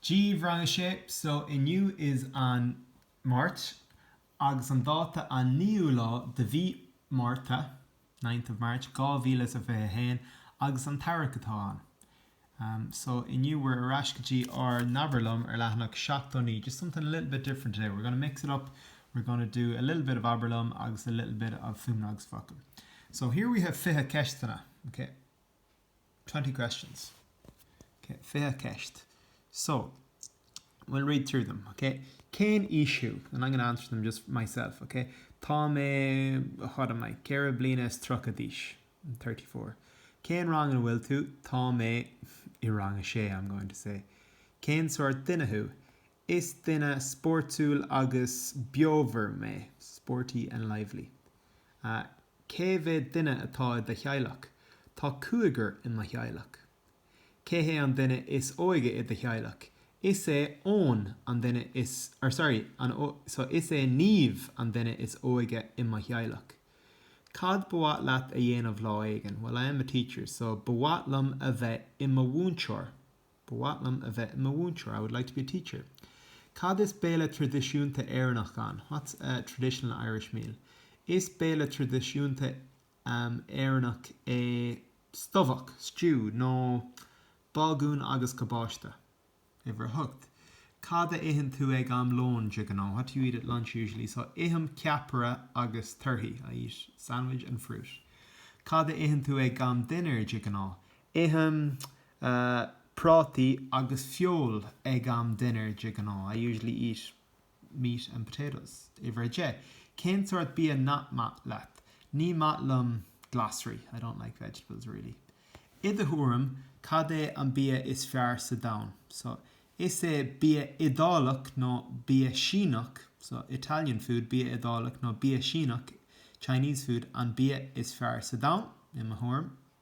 Dia daoibh rang a sé, so inniu is an Máirt agus an dáta an 9ú lá de mhí Márta, ninth of March, 2021 agus an t-earrach atá ann. Ahm, so inniu we're ar ais go dtí ár n-abair liom ar leathanach 79, just something a little bit different today, we're gonna mix it up, we're gonna do a little bit of abair liom agus a little bit of Fuaimeanna agus Focail. So here we have fiche ceisteanna, okay? Twenty questions. Ok, fiche ceist. So, we'll read through them, ok? Cén aois thú? And I'm going to answer them just myself, ok? Tá mé, what am I, ceithre bliana is tríocha d'aois. I'm thirty-four. Cén rang ina bhfuil tú? Tá mé i rang a sé, I'm going to say. Cén sórt duine thú? Is duine spórtúil agus beomhar mé, sporty and lively. Cé mhéad duine atá i do theaghlach? Tá cúigear i mo theaghlach. Cé hé an duine is óige i do theaghlach? Is é Eoin an duine is, or sorry, an, so is é Niamh an duine is óige i mo theaghlach. Cad ba mhaith leat a dhéanamh lá éigin? Well, I am a teacher, so ba mhaith liom a bheith i mo mhúinteoir. Ba mhaith liom a bheith i mo mhúinteoir, I would like to be a teacher. Cad is béile tradisiúnta Éireannach ann? What's a traditional Irish meal? Is béile tradisiúnta Éireannach é stobhach, stew, nó bágún agus cabáiste. Uimhir a hocht, Cad a itheann tú ag am lóin de ghnáth? What do you eat at lunch usually? So, ithim ceapaire agus torthaí, I eat sandwich and fruit. Cad a itheann tú ag am dinnéir de ghnáth? Ithim prátaí agus feoil ag am dinnéir de ghnáth, I usually eat meat and potatoes. Uimhir 10, Cén sórt bia nach maith leat? Ní maith liom glasraí, I don't like vegetables really. I do thuairim, cad é an bia is fearr sa domhan? So, is é bia Iodálach nó bia Síneach, so, Italian food, bia Iodálach nó bia Síneach, Chinese food, an bia is fearr sa domhan, i mo thuairim.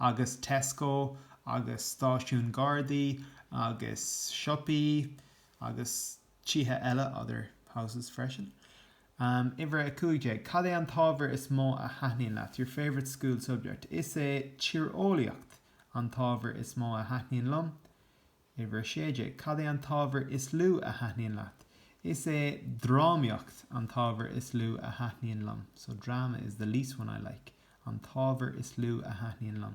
agus Tesco agus stáisiún gardaí agus siopaí agus tithe eile, other houses, freisin. Uimhir a 15, Cad é an t-ábhar is mó a thaitníonn leat? Your favourite school subject? Is é tíreolaíocht an t-ábhar is mó a thaitníonn liom. Uimhir a Sé Déag. Cad é an t-ábhar is lú a thaitníonn leat? Is é drámaíocht an t-ábhar is lú a thaitníonn liom. So drama is the least one I like. an t-ábhar is lú a thaitníonn liom.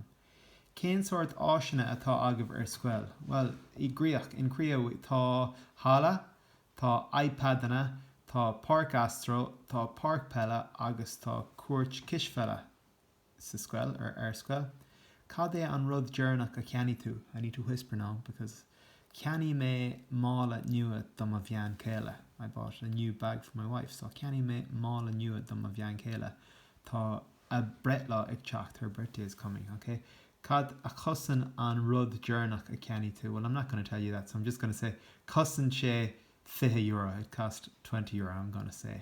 Cén sórt áiseanna atá agaibh ar scoil? Bhuel, i gCríoch, in Creagh, tá halla, tá iPadanna, tá páirc astro, tá páirc peile agus tá cúirt cispheile. sa scoil, or ar scoil. Cad é an rud deireanach a cheannaigh tú? I need to whisper now because Cheannaigh mé mála nua do mo bhean chéile. I bought a new bag for my wife. So Cheannaigh mé mála nua do mo bhean chéile. Tá a breithlá ag teacht. Her birthday is coming. Ok. Cad a chosain an rud deireanach a cheannaigh tú? Well, I'm not gonna tell you that, so I'm just gonna say Chosain sé fiche euro. It cost twenty euro. I'm gonna say.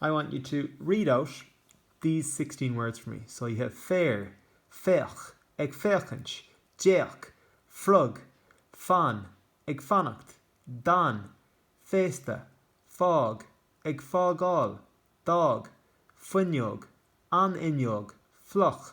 I want you to read out these sixteen words for me, so you have féar, féach, ag féachaint, d'fhéach, frog, fan, ag fanacht, d'fhan, féasta, fág, ag fágáil, d'fhág, fuinneog, an fhuinneog, fliuch,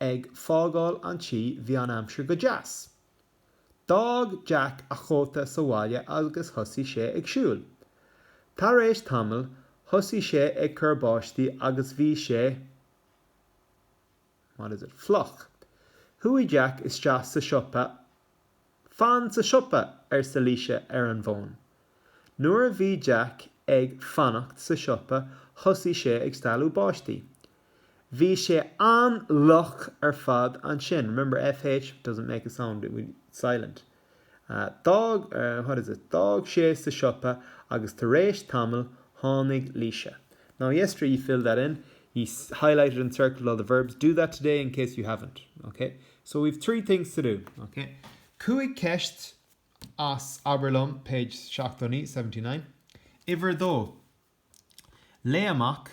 ag fágáil an tí bhí an aimsir go deas. D'fhág Jack a chóta sa bhaile agus thosaigh sé ag siúl. Tar éis tamaill thosaigh sé ag cur báistí agus bhí sé, what is it, fliuch. Chuaigh Jack isteach sa siopa Fan sa siopa, arsa Laoise ar an bhfón. Nuair a bhí Jack ag fanacht sa siopa thosaigh sé ag stealladh báistí. Bhí sé an-fhliuch ar fad ansin, remember fh doesn't make a sound, it's silent. D'fhág, what is it, d'fhág sé sa siopa agus tar éis tamaill tháinig Laoise. Now yesterday you filled that in, you highlighted and circled all the verbs, do that today in case you haven't, okay? So we've three things to do, ok? Cúig cheist as Abair Liom, page seachtó, seventy nine. Uimhir a dó, Léigh amach,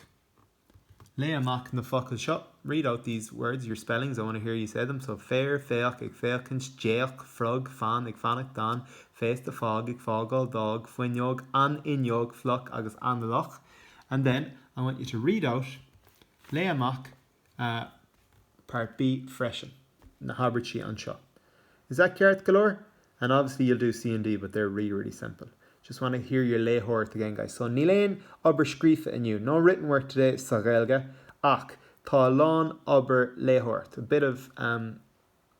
Léigh amach na focail seo, read out these words, your spellings, I want to hear you say them, so féar, féach, ag féachaint, d'fhéach, frog, fan, ag fanacht, d'fhan, féasta, fág, ag fágáil, d'fhág, fuinneog, an fhuinneog, fliuch agus an-fhliuch. And then, I want you to read out, Léigh amach, Ah, Part B, freisin. na habairtí anseo. Is that ceart go leor? And obviously you'll do C and D but they're really really simple. Just want to hear your léitheoireacht again guys. So níl aon obair scríofa inniu, no written work today sa Ghaeilge ach tá a lán obair léitheoireacht, a bit of um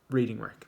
reading work.